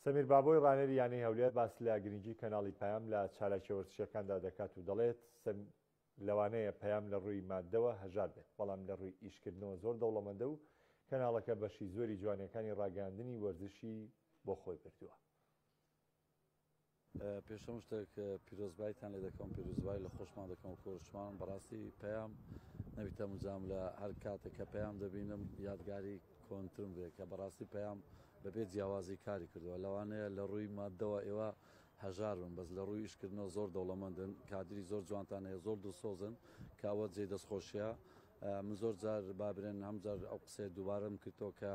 سەمیر بابۆی رانەری یانەی هەولێر باس لە گرنگی کەناڵی پەیام لە چالاکیە وەرزشیەکاندا دەکات و دەڵێت، لەوانەیە پەیام لە رووی ماددەوە هەژار بێت، بەڵام لە رووی ئیشکردنەوە زۆر دەوڵەمەندە و کەناڵەکە بەشی زۆری جوانیەکانی راگەیاندنی وەرزشی بۆ خۆی بردووە. پێش هەموو شتێک پیرۆزبایتان لێ دەکەم پیروزبای لە خۆشمان دەکەم و کۆرشمان بەڕاستی پەیام نەویتە مجام لە هەر کاتێک کە پەیام دەبینم یادگاری کۆنترم دێ کە بەڕاستی پەیام بەبێ جیاوازی کاری کردووە لەوانەیە لە ڕووی مادەوە ئێوە هەژار بن بەس لە ڕووی ئیشکردنەوە زۆر دەوڵەمەندن کادری زۆر جوانتان هەیە زۆر دڵسۆزن کە ئەوە جێی دەستخۆشیە من زۆر جار بابرێن هەم جار ئەو قسەیە دووبارەم کردەوە کە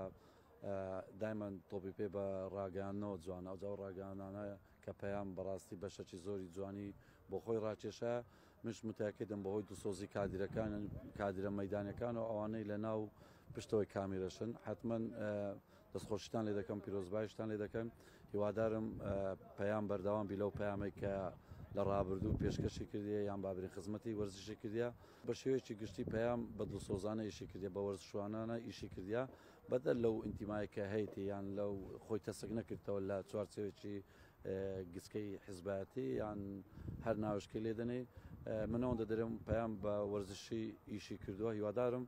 دایمەن تۆپی پێ بە ڕاگەیاندنەوە جوانە، ئەوجا ئەو ڕاگەیاندنانە کە پەیام بەڕاستی بەشەکی زۆری جوانی بۆ خۆی ڕاکێشا، منیش متەئەکیدم بەهۆی دڵسۆزی کادیرەکان، کادیرە مەیدانیەکان و ئەوانەی لە ناو و پشتەوەی کامیرەشن، حەتمەن دەستخۆشیتان لێ دەکەم، پیرۆزبایشتان لێ دەکەم، هیوادارم پەیام بەردەوام بی لەو پەیامەی کە لە ڕابردوو پێشکەشی کردیە یان بابرین خزمەتی وەرزشی کردیە، بە شێوەیەکی گشتی پەیام بە دڵسۆزانە ئیشی کردیە، بە وەرزشوانانە ئیشی کردیە، بەدەر لەو ئینتیمایە کە هەیەتی یان لەو خۆی تەسک نەکردەوە لە چوارچێوێکی گچکەی حزبایەتی یان هەر ناوشکی لێدەنەی من ئەوەندە دەرم پەیام بە وەرزشی ئیشی کردووە هیوادارم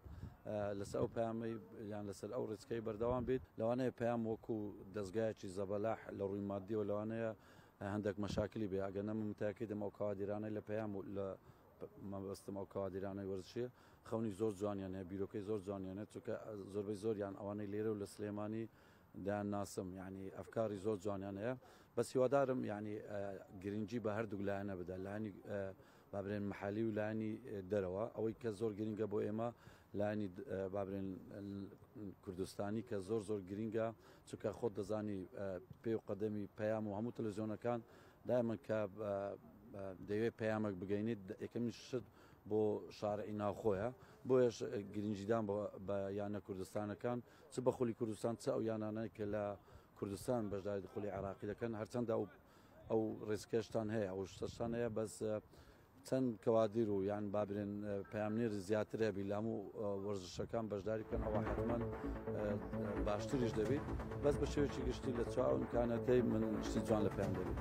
لەسەر ئەو پامەی یان لەسەر ئەو ڕێچکەی بەردەوام بێت لەوانەیە پام وەکو دەستگایکی زەبەلاح لە ڕووی مادیەوە لەوانەیە هەندێک مەشاکلی بێ ئەگەنە من تاکیدم ئەو کاوادیرانەی لە پەیام لە مەبەستم ئەو کادیرانەی وەرزشیە خەونی زۆر جوانیان هەیە بیرۆکەی زۆر جوانیان هەیە چونکە زۆربەی زۆریان ئەوانەی لێرە و لە سلێمانی دەیان ناسم یعنی ئەفکاری زۆر جوانیان هەیە بەس هیوادارم یعنی گرنگی بە هەردوو لایەنە بدە لایانی بابرێن محالی و لایانی دەرەوە ئەوەی کە زۆر گرنگە بۆ ئێمە لایانی بابرێن کوردستانی کە زۆر زۆر گرنگە چونکە خۆت دەزانی پێ و قەدەمی پەیام و هەموو تەلەزیۆنەکان دایمەن کە دەیەوێت پەیامەک بگەینیت یەکەمین شت بۆ شارعی ناوخۆیە بۆیش گرنجیدان بە یانە کوردستانەکان چ بە خولی کوردستان چ ئەو یانانەی کە لە کوردستان بەشداری خولی عراقی دەکەن هەرچەندە ئەو ئەو ڕێسکێشتان هەیە ئەو شتەشتان هەیە بەس چەند کەوادیر و یان بابرێن پامنێری زیاتر هەبی لام و وەرزشەکان بەشداری بکەن ئەوە حتممان باشتریش دەبیت بەس بە شێوێکی گشتی لە چاومکانەتەی من شتی جوان لە پێیان دەبیت.